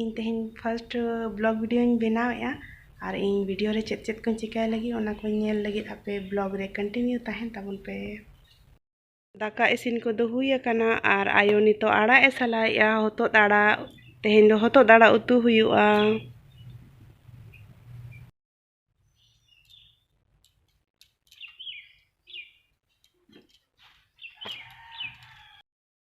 ᱤᱧ ᱛᱮᱦᱮᱧ first blog ᱵᱷᱤᱰᱤᱭᱳᱧ ᱵᱮᱱᱟᱣᱮᱫᱼᱟ ᱟᱨ ᱤᱧ ᱵᱷᱤᱰᱤᱭᱳ ᱨᱮ ᱪᱮᱫ ᱪᱮᱫ ᱠᱚᱧ ᱪᱤᱠᱟᱹᱭ ᱞᱟᱹᱜᱤᱫ ᱚᱱᱟ ᱠᱚ ᱧᱮᱞ ᱞᱟᱹᱜᱤᱫ ᱟᱯᱮ ᱵᱞᱚᱜ ᱨᱮ ᱠᱚᱱᱴᱤᱱᱤᱭᱩ ᱛᱟᱦᱮᱱ ᱛᱟᱵᱚᱱ ᱯᱮ ᱫᱟᱠᱟ ᱤᱥᱤᱱ ᱠᱚᱫᱚ ᱦᱩᱭ ᱟᱠᱟᱱᱟ ᱟᱨ ᱟᱭᱳ ᱱᱤᱛᱚᱜ ᱟᱲᱟᱜ ᱮ ᱥᱟᱞᱟᱭᱮᱫᱼᱟ ᱦᱚᱛᱚᱫ ᱟᱲᱟᱜ ᱛᱮᱦᱮᱧ ᱫᱚ ᱦᱚᱛᱚᱫ ᱟᱲᱟᱜ ᱩᱛᱩ ᱦᱩᱭᱩᱜᱼᱟ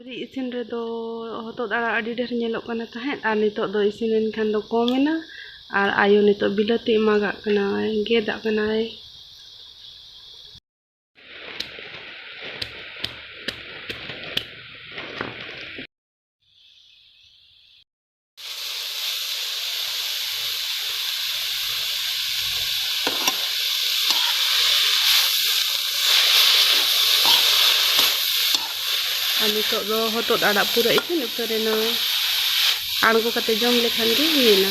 ᱥᱩᱠᱨᱤ ᱤᱥᱤᱱ ᱨᱮᱫᱚ ᱦᱚᱛᱚᱫ ᱟᱲᱟᱜ ᱟᱹᱰᱤ ᱰᱷᱮᱨ ᱧᱮᱞᱚᱜ ᱠᱟᱱᱟ ᱛᱟᱦᱮᱸᱫ ᱟᱨ ᱱᱤᱛᱚᱜ ᱫᱚ ᱤᱥᱤᱱ ᱮᱱᱠᱷᱟᱱ ᱫᱚ ᱠᱚᱢ ᱮᱱᱟ ᱟᱨ ᱟᱭᱳ ᱱᱤᱛᱚᱜ ᱵᱤᱞᱟᱹᱛᱤ ᱮᱢᱟᱜᱟᱜ ᱠᱟᱱᱟᱭ ᱜᱮᱫᱟᱜ ᱠᱟᱱᱟᱭ ᱟᱨ ᱱᱤᱛᱚᱜ ᱫᱚ ᱦᱚᱛᱚᱫ ᱟᱲᱟᱜ ᱯᱩᱨᱟᱹ ᱤᱥᱤᱱ ᱩᱛᱟᱹᱨᱮᱱᱟ ᱟᱬᱜᱚ ᱠᱟᱛᱮ ᱡᱚᱢ ᱞᱮᱠᱷᱟᱱ ᱜᱮ ᱦᱩᱭᱮᱱᱟ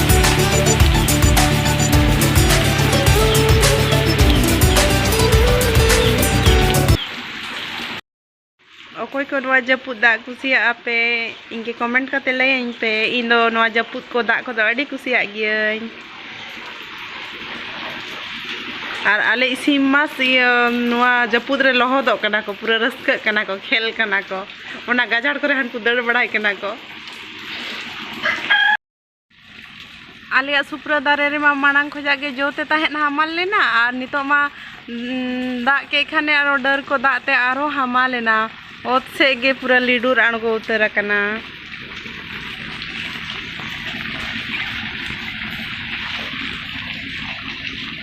ᱚᱠᱚᱭ ᱠᱚ ᱱᱚᱣᱟ ᱡᱟᱹᱯᱩᱫ ᱫᱟᱜ ᱠᱩᱥᱤᱭᱟᱜ ᱟᱯᱮ ᱤᱧ ᱜᱮ ᱠᱚᱢᱮᱱᱴ ᱠᱟᱛᱮ ᱞᱟᱹᱭᱟᱹᱧ ᱯᱮ ᱤᱧ ᱫᱚ ᱱᱚᱣᱟ ᱡᱟᱹᱯᱩᱫ ᱠᱚ ᱫᱟᱜ ᱠᱚᱫᱚ ᱟᱹᱰᱤ ᱠᱩᱥᱤᱭᱟᱜ ᱜᱤᱭᱟᱹᱧ ᱟᱨ ᱟᱞᱮ ᱤᱥᱤᱱ ᱢᱟᱥ ᱤᱭᱟᱹ ᱱᱚᱣᱟ ᱡᱟᱹᱯᱩᱫ ᱨᱮ ᱞᱚᱦᱚᱫᱚᱜ ᱠᱟᱱᱟ ᱠᱚ ᱯᱩᱨᱟᱹ ᱨᱟᱹᱥᱠᱟᱹᱜ ᱠᱟᱱᱟ ᱠᱚ ᱠᱷᱮᱞ ᱠᱟᱱᱟ ᱠᱚ ᱚᱱᱟ ᱜᱟᱡᱟᱲ ᱠᱚᱨᱮ ᱦᱟᱱᱠᱩ ᱫᱟᱹᱲ ᱵᱟᱲᱟᱭ ᱠᱟᱱᱟ ᱠᱚ ᱟᱞᱮᱭᱟᱜ ᱥᱩᱯᱨᱟᱹ ᱫᱟᱨᱮ ᱨᱮᱢᱟ ᱢᱟᱲᱟᱝ ᱠᱷᱚᱡᱟᱜ ᱜᱮ ᱡᱚ ᱛᱮ ᱛᱟᱦᱮᱸᱫ ᱦᱟᱢᱟᱞ ᱞᱮᱱᱟ ᱟᱨ ᱱᱤᱛᱚᱜ ᱢᱟ ᱫᱟᱜ ᱠᱮᱫ ᱠᱷᱟᱱᱮ ᱟᱨᱚ ᱰᱟᱹᱨ ᱠᱚ ᱫᱟᱜ ᱛᱮ ᱟᱨᱦᱚᱸ ᱦᱟᱢᱟᱞ ᱮᱱᱟ ᱚᱛ ᱥᱮᱫ ᱜᱮ ᱯᱩᱨᱟᱹ ᱞᱤᱰᱩᱨ ᱟᱬᱜᱚ ᱩᱛᱟᱹᱨ ᱟᱠᱟᱱᱟ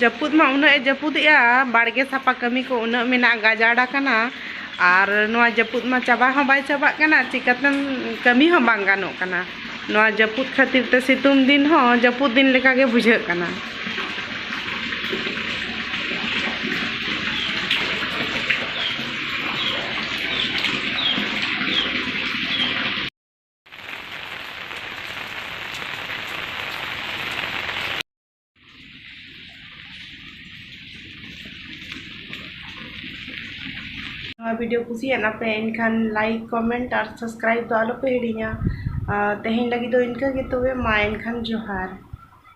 ᱡᱟᱹᱯᱩᱫ ᱢᱟ ᱩᱱᱟᱹᱜ ᱮ ᱡᱟᱹᱯᱩᱫᱮᱜᱼᱟ ᱵᱟᱲᱜᱮ ᱥᱟᱯᱟ ᱠᱟᱹᱢᱤ ᱠᱚ ᱩᱱᱟᱹᱜ ᱢᱮᱱᱟᱜ ᱜᱟᱡᱟᱲ ᱟᱠᱟᱱᱟ ᱟᱨ ᱱᱚᱣᱟ ᱡᱟᱹᱯᱩᱫ ᱢᱟ ᱪᱟᱵᱟ ᱦᱚᱸ ᱵᱟᱭ ᱪᱟᱵᱟᱜ ᱠᱟᱱᱟ ᱪᱤᱠᱟᱹᱛᱮᱢ ᱠᱟᱹᱢᱤ ᱦᱚᱸ ᱵᱟᱝ ᱜᱟᱱᱚᱜ ᱠᱟᱱᱟ ᱱᱚᱣᱟ ᱡᱟᱹᱯᱩᱫ ᱠᱷᱟᱹᱛᱤᱨ ᱛᱮ ᱥᱤᱛᱩᱝ ᱫᱤᱱ ᱦᱚᱸ ᱡᱟᱹᱯᱩᱫ ᱫᱤᱱ ᱞᱮᱠᱟ ᱜᱮ ᱵᱩᱡᱷᱟᱹᱜ ᱠᱟᱱᱟ ᱱᱚᱣᱟ ᱵᱷᱤᱰᱤᱭᱳ ᱠᱩᱥᱤᱭᱟᱜ ᱟᱯᱮ ᱮᱱᱠᱷᱟᱱ ᱞᱟᱭᱤᱠ ᱠᱚᱢᱮᱱᱴ ᱟᱨ ᱥᱟᱵᱥᱠᱨᱟᱭᱤᱵ ᱫᱚ ᱟᱞᱚᱯᱮ ᱦᱤᱲᱤᱧᱟ ᱛᱮᱦᱮᱧ ᱞᱟᱹᱜᱤᱫ ᱫᱚ ᱤᱱᱠᱟᱹ ᱜᱮ ᱛᱚᱵᱮ ᱢᱟ ᱮᱱᱠᱷᱟᱱ ᱡᱚᱦᱟᱨ